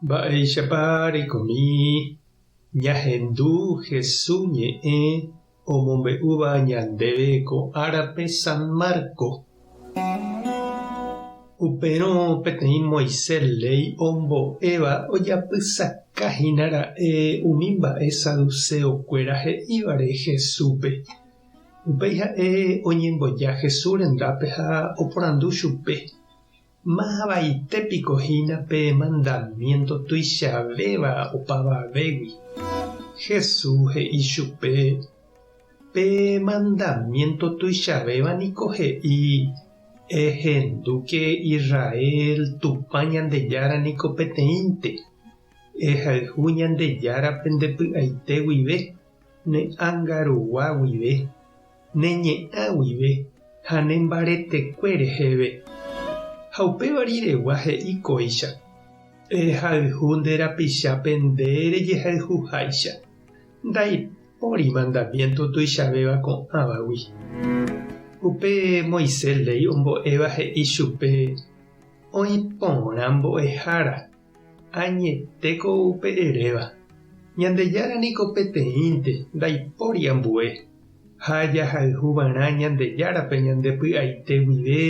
Mba'éichapa reikomi ñahendu Hesu ñe'ẽ omombe'úva ñandéve ko árape San Marco? Upérõ peteĩ Moisés léi ombo'éva ojapysaka hína ra'e umi mba'e saduceokuéra he'ívare Jesúspe. Upéi ha'e oñemboja Jesús rendápe ha oporandu chupe. Mávavaite piko hína pe mandamiénto tuichavéva opavavégui? Jesús he'i chupe, Pe mandamiénto tuichavéva niko he'i, 'Ehendúke Israel, Tupã Ñandejára niko peteĩnte. Ehayhu Ñandejárape nde py'aite guive, ne ánga rugua guive, ne ñe'ã guive ha ne mbaretekue reheve. Ha upéva riregua he'i kóicha, Ehayhu nde rapichápe nde rejehayhuháicha, ndaipóri mandamiénto tuichavéva ko'ãvagui. Upe Moisés léi ombo'éva he'i chupe oĩ porã mbo'ehára. Añetéko upe eréva. Ñandejára niko peteĩnte, ndaipóri ambue. Ha jahayhu va'erã Ñandejárape ñande py'aite guive,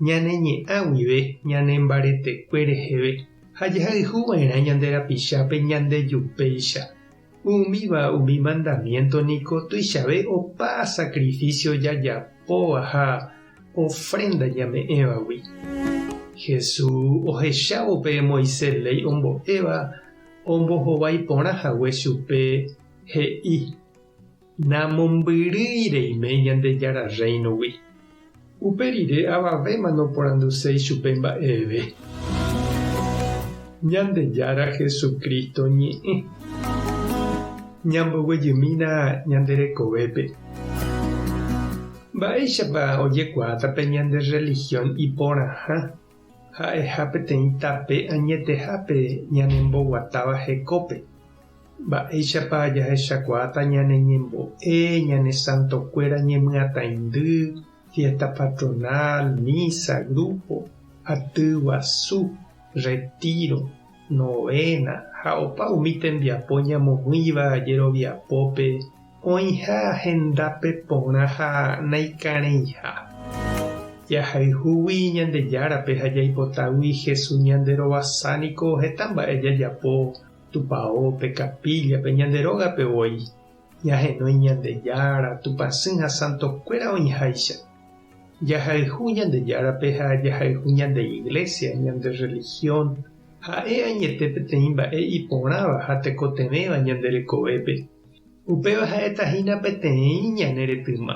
ñane ñe'ã guive, ñane mbaretekue reheve, ha jahayhu va'erã ñande rapichápe ñande jupéicha. Umíva umi mandamiénto niko tuichave opa sakrifísio jajapóva ha ofrénda ñame'ẽvagui. Jesús ohechávo pe Moisés léi ombo'éva ombohovái porã hague chupe, he'i, Namombyrýi reime Ñandejára Rréinogui. Upe rire avavéma noporanduséi chupe mba'eve. Ñandejára Jesucristo ñe'ẽ. Ñamboguejymína ñande rekovépe. Mba'éichapa ojekuaáta pe ñande rrelihión iporãha ha'eha peteĩ tape añetehápe ñanemboguatáva hekópe? Mba'éichapa jahechakuaáta ñane ñembo'e ñane santokuéra ñemyatãindy, fiésta patronal, mísa, grúpo, aty guasu, retíro, novéna ha opa umi tembiapo ñamoĩva jeroviapópe oĩha hendápe porã ha naikarẽiha. Jahayhúgui Ñandejárape ha jaipotagui Jesús ñanderovasa niko heta mba'e jajapo. Tupao, pe kapílla, pe ñande rógape voi, ñahenói Ñandejára, Tupãsy ha santokuéra oĩháicha. Jahayhu Ñandejárape ha jahayhu ñande iglésia, ñande rrelihión, ha'e añete peteĩ mba'e iporãva ha tekotevẽva ñande rekovépe. Upéva ha'etahína peteĩ ñane retyma.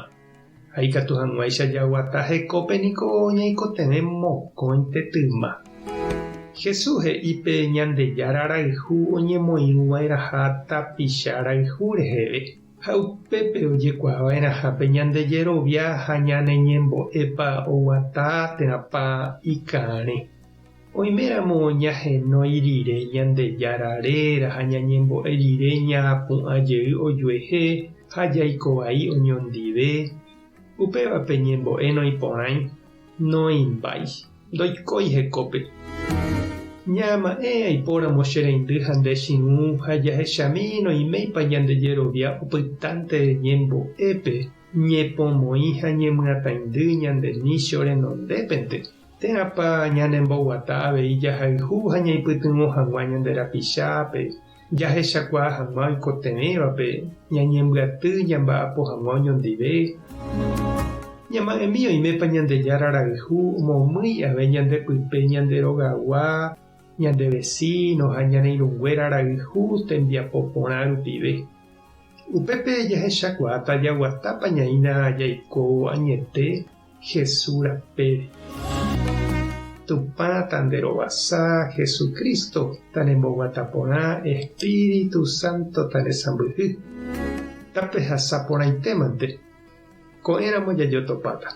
Ha ikatu hag̃uáicha jaguata hekópe niko ñaikotevẽ mokõite tyma. Jesús he'i pe Ñandejára rayhu oñemoirũva'erãha tapicha rayhu reheve. Ha upépe ojekuaava'erãha pe ñande jerovia ha ñane ñembo'épa oguata térãpa ikãre. Oiméramo ñahenói rire Ñandejára réra ha ñañembo'e rire ñaapu'ã jey ojuehe ha jaiko vai oñondive, upéva pe ñembo'e noĩporãi, noimbái, ndoikói hekópe. Ñaama'ẽ aipóramo che reindy ha nde chiũ ha jahechami noiméipa ñande jerovia opytánte ñembo'épe, ñepomoĩ ha ñemyatãindy ñande michio renondépente. Térãpa ñanemboguata avei jahayhu ha ñaipytyvõ hag̃ua ñande rapichápe, jahechakuaa hag̃ua oikotevẽvape, ñañembyaty jamba'apo hag̃ua oñondive? Ñama'ẽmi oimépa Ñandejára rayhu omomýi avei ñande pype ñande rogagua, ñande vesíno ha ñane irũnguéra rayhu tembiapo porã rupive. Upépe jahechakuaáta jaguatápa ñaína jaiko añete. Jesús rapére. Tupã tanderovasa, Jesucristo tanemboguata porã, Espíritu Santo tanesãmbyhy. Tapehasa porãitémante, ko'ẽramo jajotopáta.